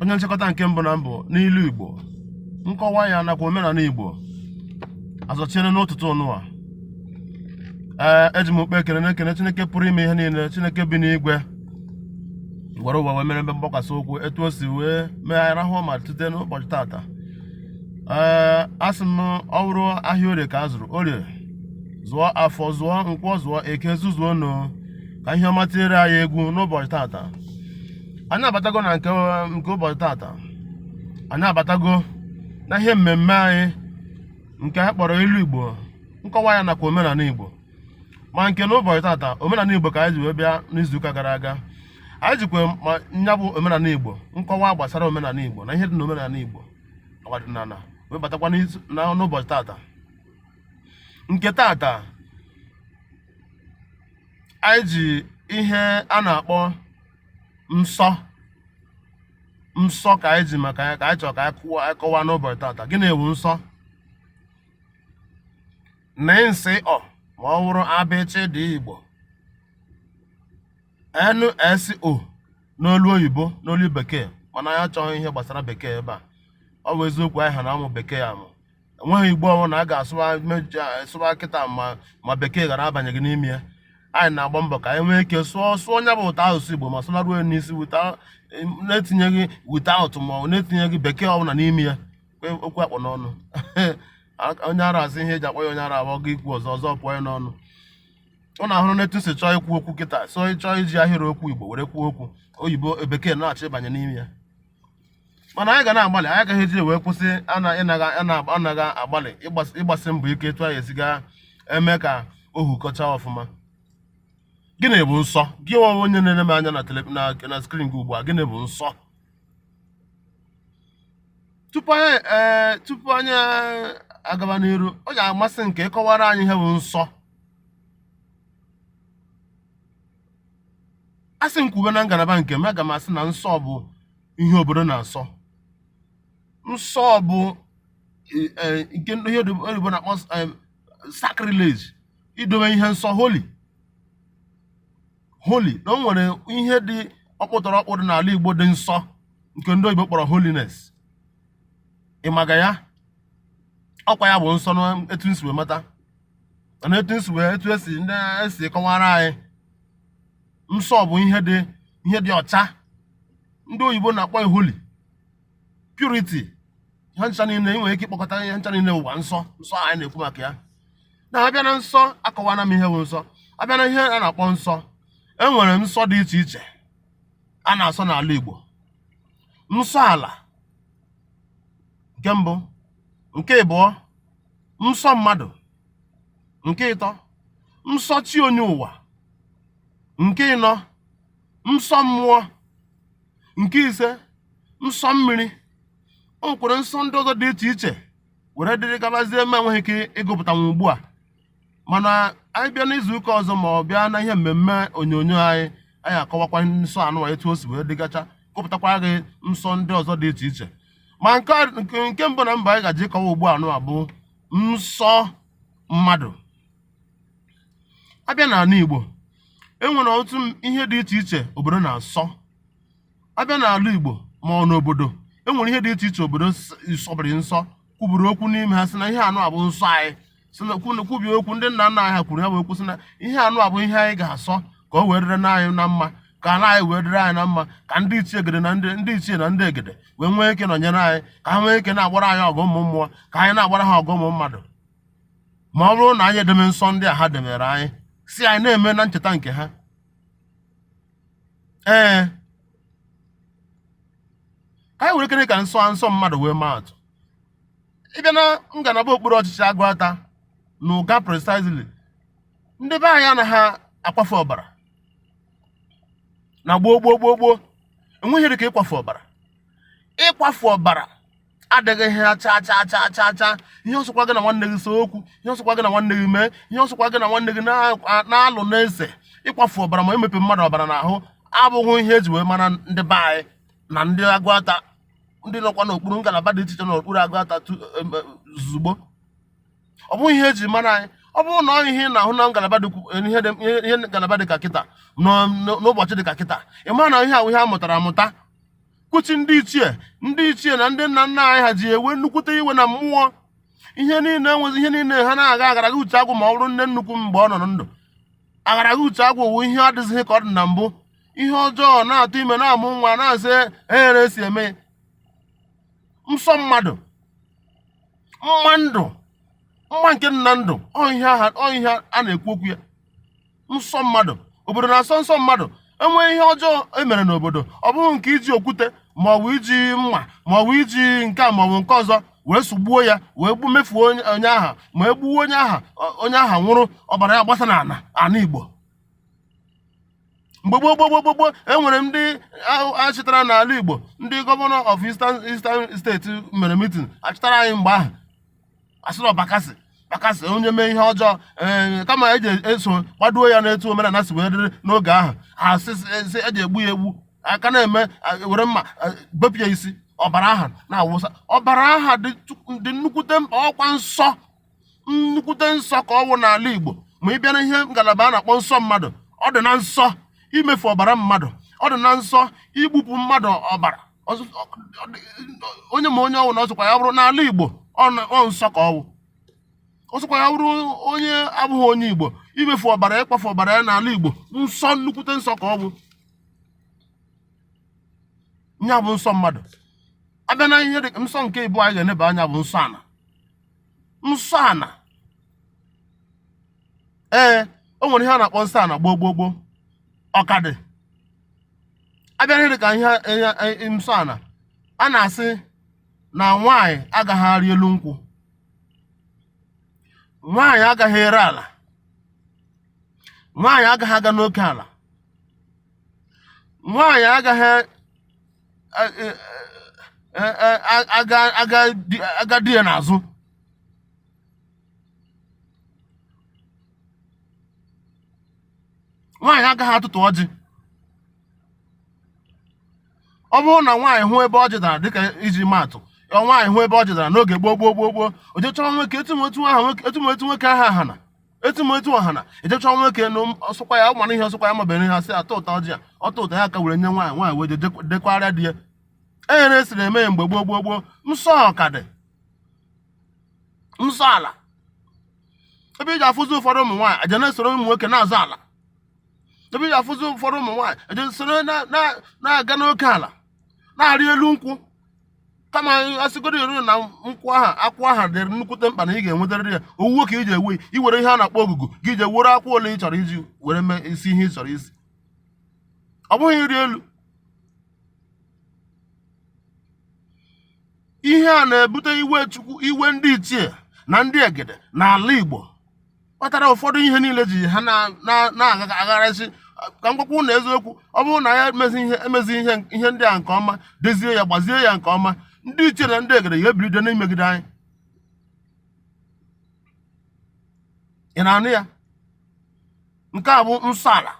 onye nchịkọta nke mbụ na mbụ n'ilu igbo nkọwa ya nakwa omenala igbo azọchiere n'ụtụtụ nụwa ee eji m okpe ekele na-ekene chineke pụrụ ime ihe niile chineke bi n'igwe gwere ụwa wee mere mbe mgbakwasị ụkwụ etu o si wee mee anyị rahụ ma tute n'ụbọchị tata ee a sị m ọ bụrụ ahịa orie ka a zụrụ orie zụọ afọ zụọ nkwọ zụọ eke zụzuo nụ ka ihe ọma teere anyị egwu n'ụbọchị tata anyị abatago na nke nke ụbọchị tata anyị abatago na ihe mmemme anyị nke anyị kpọrọ ilu igbo nkọwa ya nakwa omenala igbo ma nke na ụbọchị tata omenala igbo ka anyị ji wee bịa n'izuụka gara aga anyị jikwa ma nya bụ omenala igbo nkọwa gbasara omenala igbo na ihe dị na omenala igbo ọdịnala wee batakwa n'ụbọchị tata nke tata anyị ji ihe a na-akpọ nsọ nsọ ka anyị ji maka ya ka anyị chọrọ ka anyị kụwa anyị kọwaa n'ụbọchị tata gịnị bụ nsọ nị sị ọ ma ọ bụrụ abịchịdị igbo NSO n'olu oyibo n'olu bekee mana anyị achọghị ihe gbasara bekee ebe a ọ bụ eziokwu anyị ha na-amụ bekee amụ enweghị igbo ọbụla a ga-asụwa sụwa kịta ma ma bekee ghara abanyeghị n'ime ya anyị na-agba mbọ ka anyị nwee ike sụọ sụọ nya bụ ụtọ asụsụ igbo ma sụlaruo ya n'isi na-etinyeghị without ma ọ na-etinyeghị bekee ọbụla n'ime ya okwu akpọ n'ọnụ onye ara asị ihe eji akpọ ya onye ara bụ ọ gaa ikwu ọzọ ọzọ pụọ ya n'ọnụ ọ na-ahụrụ n'etu si chọọ ikwu okwu kịta so chọọ iji ahịrị okwu igbo were kwuo okwu oyibo bekee na-achọ ịbanye n'ime ya mana anyị ga na-agbalị anyị agaghị eji wee kwụsị anaghị agbalị ịgbasi mbọ ike etu anyị esi ga-eme ka ohu kọchaa ọfụma gịnị bụ nsọ gị nwa onye na-ele m anya na screen gị ugbu a gịnị bụ nsọ tupu anyị e, agaba n'iru ọ ga-amasị m ka ị kọwara anyị ihe bụ nsọ A sị m kwube na ngalaba nke m, aga m asị na nsọ bụ ihe obodo na-asọ. Nsọ bụ e- e- nke ndị ihe oyibo oyibo na-akpọ em, sacrilege, idobe ihe nsọ holy holy na o nwere ihe dị ọkpụtọrọ ọkpụ dị n'ala Igbo dị nsọ nke ndị oyibo kpọrọ holiness. Ị maga ya? Ọ kwa ya bụ nsọ na etu m si wee mata. na etu esi wee etu esi ndị esi kọwara anyị nsọ bụ ihe dị ihe dị ọcha ndị oyibo na-akpọ ya holy purity ha ncha niile ị nwere ike ịkpọkọta ihe ncha niile ụwa nsọ nsọ anyị na-ekwu maka ya na abịa na nsọ akọwana m ihe bụ nsọ abịa na ihe a na-akpọ nsọ e nwere nsọ dị iche iche a na-asọ n'ala Igbo nsọ ala nke mbụ nke ịbụọ nsọ mmadụ nke ịtọ nsọ chi onye ụwa nke ịnọ nsọ mmụọ nke ise nsọ mmiri o nwekwara nsọ ndị ọzọ dị iche iche were dịrị gabazie ma enweghị ike ịgụpụtanwu ugbu a mana anyị bịa n'izu ụka ọzọ ma ọ bịa na ihe mmemme onyonyo anyị anyị akọwakwa nsọ anụwa etu o si wee dịgacha gụpụtakwa gị nsọ ndị ọzọ dị iche iche ma nke nke mbụ na mbụ anyị gaje ịkọwa ugbu anụwa bụ nsọ mmadụ abịa n'ala Igbo enwere ọtụtụ ihe dị iche iche obodo na-asọ abịa n'ala Igbo ma ọ n'obodo enwere ihe dị iche iche obodo sọbiri nsọ kwuburu okwu n'ime ha sị na ihe anụwa bụ nsọ anyị kwubie okwu ndị nna nna anyị ha kwuru ha wee kwuo sị na ihe anụwa bụ ihe anyị ga-asọ ka o wee dịrị na anyị na mma ka ala anyị wee dịrị anyị na mma ka ndị ichie egede na ndị ndị ichie na ndị egede wee nwee ike nọnyere anyị ka ha nwee ike na-agbara anyị ọgụ ụmụ mmụọ ka anyị na-agbara ha ọgụ ụmụ mmadụ ma ọ bụrụ na anyị edeme nsọ ndị a ha demere anyị sị anyị na-eme na ncheta nke ha ee ka anyị were kere ka nsọ nsọ mmadụ wee maa atụ ịbịa na ngalaba okpuru ọchịchị Agụata na Ụga precisely ndị be anyị anaghị akwafe ọbara na gboo gboo gboo gboo enweghị ihe dị ka ịkwafe ọbara ịkwafe ọbara adịghị ihe chaa chaa chaa chaa chaa ihe ọsọkwa gị na nwanne gị see okwu ihe ọsọkwa gị na nwanne gị mee ihe ọsọkwa gị na nwanne gị na-alụ na-ese ịkwafu ọbara ma emepe mmadụ ọbara n'ahụ abụghị ihe eji wee mara ndị be anyị na ndị Agụata ndị nọkwa n'okpuru ngalaba dị iche iche n'okpuru Agụata zugbo ọ bụghị ihe eji mara anyị ọ bụrụ na ọ ihe ị na-ahụ na ngalaba dị ihe ngalaba dị ka kịta n'ụbọchị dị ka kịta ị mara na ihe ahụ ihe a mụtara amụta kwuchi ndị ichie ndị ichie na ndị nna nna anyị ha ji ewe nnukwute iwe na mmụọ ihe niile enwezi ihe niile ha na-aga agaraghị uche agwụ ma ọ bụrụ nne nnukwu mgbe ọ nọ ndụ agaraghị uche agwụ wụ ihe adịzighị ka ọ dị na mbụ ihe ọjọọ na-atụ ime na-amụ nwa na-asị ehere si eme nsọ mmadụ mma ndụ mma nke nna ndụ ọ ihe ọ ihe a na-ekwu okwu ya nsọ mmadụ obodo na-asọ nsọ mmadụ enwee ihe ọjọọ emere n'obodo ọ bụrụ nke iji okwute ma ọ bụ iji mma ma ọ bụ iji nke a ma ọ bụ nke ọzọ wee sụgbuo ya wee gbu mefuo onye aha ma e gbuo onye aha onye aha nwụrụ ọbara ya agbasa n'ala ana Igbo mgbe gboo gboo gboo gboo e nwere ndị achịtara n'ala Igbo ndị governor of Eastern Eastern state mere mitin achịtara anyị mgbe ahụ asịrị Bakassi Bakassi onye mee ihe ọjọọ ee eh, kama eji eso gbadoo ya n'etu omenala si wee dịrị n'oge ahụ asị eji egbu ya egbu a ka na-eme were mma bepụ ya isi ọbara aha na-awụsa ọbara aha dị nnukwute mkpa ọkwa nsọ nnukwute nsọ ka ọwụ n'ala Igbo ma ị bịa na ihe ngalaba a na-akpọ nsọ mmadụ ọ dị na nsọ imefu ọbara mmadụ ọ dị na nsọ igbupụ mmadụ ọbara onye ma onye ọwụna ọsọkwa ya bụrụ n'ala Igbo ọ nsọ ka ọwụ ọsọkwa ya bụrụ onye abụghị onye Igbo imefu ọbara ịkwafu ọbara ya n'ala Igbo nsọ nnukwute nsọ ka ọ bụ nya bụ nsọ mmadụ abịa na ihe dị nsọ nke ịbụa anyị ga-eneba anya bụ nsọ ala nsọ ana ee o nwere ihe a na-akpọ nsọ ana gboo gboo gboo ọ ka dị abịa ihe dịka ihe ihe nsọ ana a na-asị na nwaanyị agaghị arị elu nkwụ nwaanyị agaghị ere ala nwaanyị agaghị aga n'oke ala nwaanyị agaghị aga di ya n'azụ nwaanyị agaghị atụtụ ọjị ọ bụrụ na nwaanyị hụ ebe ọjị dara dịka iji maatụ ọ nwaanyị hụ ebe ọjị dara n'oge gboo gboo gboo gboo o je chọọ nwoke etu ma etu nwoke aha hana etu ma etu ọ hana e je chọọ nwoke na ọsọkwa ya ụmana ihe ọsọkwa ya mabere ihe a sị ya tụtụta ọjị a ọ tụtụta ya ka were nye nwaanyị nwaanyị wee dekwara di ya enyere esiri eme ya mgbe gboo gboo gboo nsọ ọ ka dị nsọ ala ebe iji afụzi ụfọdụ ụmụ nwaanyị aja na-esoro ụmụ nwoke na-azụ ala ebe iji afụzi ụfọdụ ụmụ nwaanyị aja soro na-aga n'oke ala na-arị elu nkwụ kama asịgoro eru na nkwụ aha akwụ aha dịrị nnukwute mkpa na ị ga-enwetarịrị ya owuwe ka iji ewe i were ihe a na-akpọ ogugu gị eje were akwụ ole ị chọrọ iji were mee isi ihe ị chọrọ isi ọ bụghị ịrị elu ihe a na-ebute iwe Chukwu iwe ndị ichie na ndị egede na ala Igbo kpatara ụfọdụ ihe niile ji ha na-agagharịsị ka m gwakwa ụnụ eziokwu ọ bụrụ na ya emezi ihe ndị a nke ọma dezie ya gbazie ya nke ọma ndị ichie na ndị egede ya ebilite n'imegide anyị ị na-anụ ya nke a bụ nsọ ala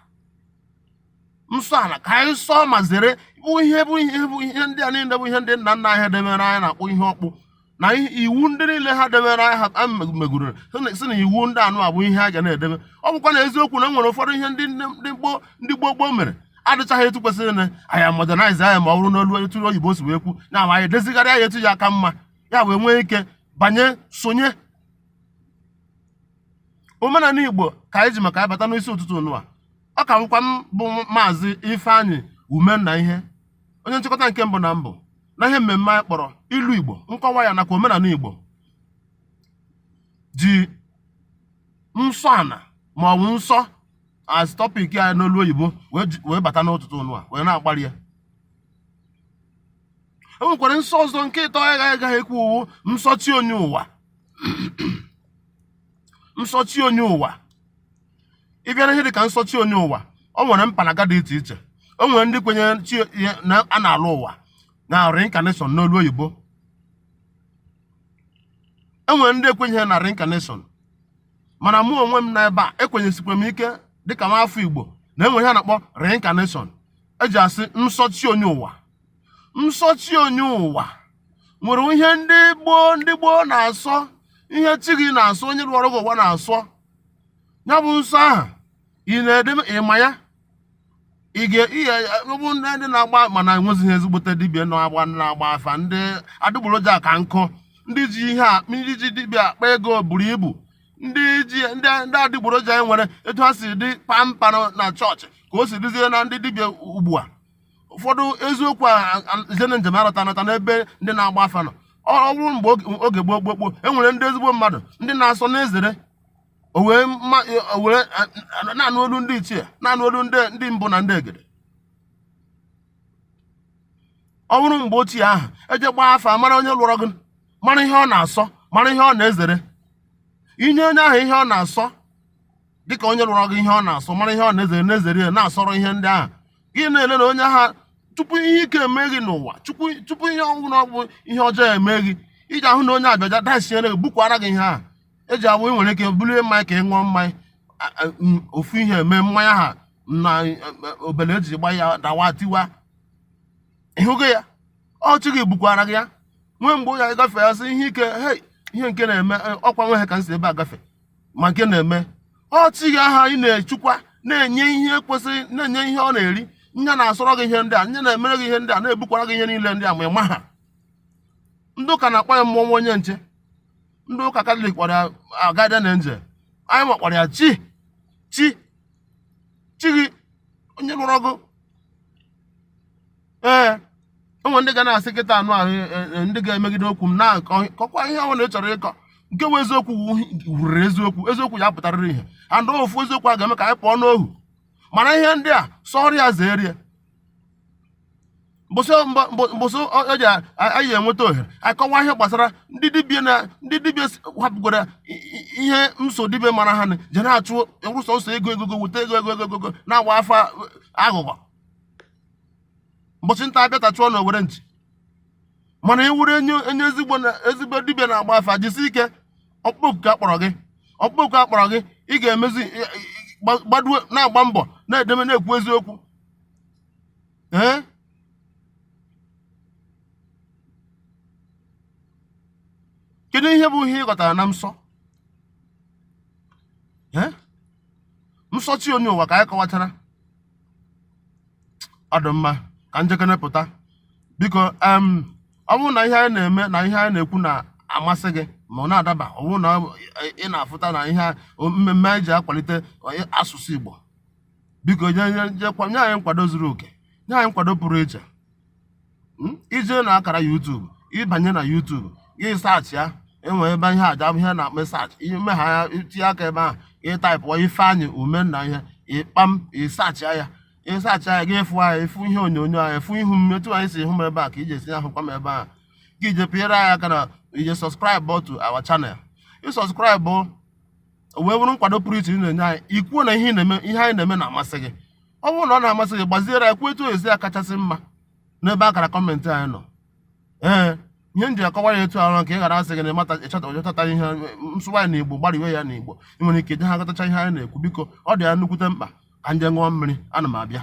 nsọ ala ka anyị sọọ ma zere bụ ihe ndị a niile bụ ihe ndị nna nna anyị debere anyị na-akpọ ihe ọkpụ na iwu ndị niile ha debere ha megoro sị na iwu ndị a nụwa bụ ihe a ga na-edebe ọ bụkwa na eziokwu na e nwere ụfọdụ ihe ndị gboo gboo mere adịchaghị etu kwesịrị na anyị modernize ya ma ọ bụrụ n'olu etu oyibo si wee kwu na ma anyị edezigharịa ya etu ya aka mma ya wee nwee ike banye sonye omenala igbo ka anyị ji maka ya bata n'isi ụtụtụ nụwa ọ ka bụkwa m bụ maazị ifeanyị umennaihe onye nchịkọta nke mbụ na mbụ na ihe mmemme anyị kpọrọ ilu Igbo nkọwa ya nakwa omenala Igbo ji nsọ ana ma ọ bụ nsọ as topic ya n'olu oyibo wee bata n'ụtụtụ nụwa wee na-akparị ya e nwekwara nsọ ọzọ nke ịtọ ya agaghị ekwu ọ wụ nsọ chi onye ụwa nsọ chi onye ụwa ị bịa na ihe dị ka nsọ chi onye ụwa o nwere mpaghara dị iche iche o nwere ndị kwenyere sị na a na-alọ ụwa na reincarnation n'olu oyibo e nwere ndị ekwenyeghị na reincarnation mana mụ onwe m nọ ebe a ekwenyesikwa m ike dịka nwa afọ igbo na enwere ihe a na-akpọ reincarnation eji asị nsọ chi onye ụwa nsọ chi onye ụwa nwere ihe ndị gboo ndị gboo na-asọ ihe chi gị na-asọ onye lọrọ gị ụwa na-asọ ya bụ nsọ ahụ ị na-edebe ịma ya ị ga-ebu ndị ndị na-agba mana enwezighị ezigbote dibịa na-agba na-agba afa ndị adịgboroja ka nkụ ndị ji ihe a ndị ji dibịa akpa ego buru ibu ndị ndị adịgboroja e nwere etu ha si dị pampa na chọọchị ka o si dịzie na ndị dibịa ugbu a ụfọdụ eziokwu izena njem arọta anọta n'ebe ndị na-agba afa nọ ọ bụrụ mgbe oge gboo gboo gboo e nwere ndị ezigbo mmadụ ndị na-asọ na-ezere o wee na-anụ olu ndị ichie na-anụ olu ndị mbụ na ndị egede ọ bụrụ mgbe ochie ahụ e jee gbaa afa mara onye lọrọ gị mara ihe ọ na-asọ mara ihe ọ na-ezere ihe onye ahụ ihe ọ na-asọ dịka onye lọrọ gị ihe ọ na-asọ mara ihe ọ na-ezere na-ezere ya na-asọrọ ihe ndị ahụ gị na-ele na onye ahụ tupu ihe ike eme gị n'ụwa tupu ihe ọbụla ọ bụ ihe ọjọọ eme gị ị ga-ahụ na onye abịaja dasiere gị bukwara gị ihe a eji awụ ị nwere ike bulie mmanya ka ị ṅụọ mmanya ofu ihe eme mmanya ahụ na e, e, obele eji gba ya dawa tiwa ịhụgo ya ọ chi gị bukwara gị ya nwee mgbe ụlọ ya gafee ya sị ihe ike ihe nke na-eme e, ọkwa nwe ha ka m si ebe a gafee ma nke na-eme ọ chi gị ahụ ị na-echukwa na-enye ihe kwesịrị na-enye ihe ọ na-eri nya na-asọrọ gị ihe ndị a nya na-emere gị ihe ndị a na-ebukwara gị ihe niile ndị a ma ịma ha ndị ụka na-akpọ ya mmụọ ọma onye nche ndị ụka katọlik kpọrọ ya guardian angel anyị nwa kpọrọ ya chi chi chi gị onye lụrụ ọgụ ee o nwe ndị ga na-asị kịta anụ ahụ e, e, ndị ga-emegide okwu m na-akọkwa ihe ọ bụla ị chọrọ ịkọ nke bụ eziokwu wuriri eziokwu eziokwu ya pụtarịrị ihe and ofu eziokwu a ga-eme ka anyị pụọ n'ohu mana ihe ndị a sọrọ ya zere ya mbọsị oji anyị enweta ohere akọwa ihe gbasara ndị dibịa na ndị dibịa hapụgoro ihe nsọ dibịa mara ha je na-achụrụ sọọsọ ego ego ego weta ego ego ego na-agba afa aghụghọ mbọchị nta abịata chụọ na owere nchi mana ị wụrụ onye onye ezigbo na ezigbo dibịa na-agba afa jisi ike ọkpụkpọ oku ka akpọrọ gị ọkpụkpọ oku akpọrọ gị ị ga-emezi ị- ị- gba- gbadue na-agba mbọ na-edeme na-ekwu eziokwu ee kedu ihe bụ ihe ị ghọtara na nsọ ee nsọ chi onye ụwa ka anyị kọwachara ọ dị mma ka m jekene pụta biko em ọ bụrụ na ihe anyị na-eme na ihe anyị na-ekwu na-amasị gị ma ọ na-adaba ọ bụrụ na ị na-afụta na ihe a- o- mmemme anyị ji akwalite onye- asụsụ Igbo biko nye nye- nye kwa- nye anyị nkwado zuru oke nye anyị nkwado pụrụ iche hmm? i je na akara YouTube ị banye na YouTube gị search ya enwee ebe ihe aja ihe na-eme search ime ha ya tinye aka ebe ahụ ị type Ifeanyị Umenna ihe ịkpam ị search ya ị search ya gị fụ anyị ị fụ ihe onyonyo anyị afụ ihu m etu ahụ i si hụ m ebe a ka i je esi ahụkwa m ebe ahụ gị eje pịara ya aka na i je subscribe to our channel ị subscribe wee bụrụ nkwado pụrụ iche ị na-enye anyị i kwuo na ihe na-eme ihe anyị na-eme na-amasị gị ọ bụrụ na ọ na-amasị gị gbaziere ya kwuo etu o je esi akachasị mma n'ebe akara comment anyị nọ ee ihe m ji akọwa ya etu ahụ ka ị ghara asị gị na ịmata ịchọtata ihe m sụwa ya na igbo gbariwe ya na igbo ị nwere ike je ha aghọtacha ihe anyị na-ekwu biko ọ dị ya nnukwute mkpa ka m je ṅụọ mmiri ana m abịa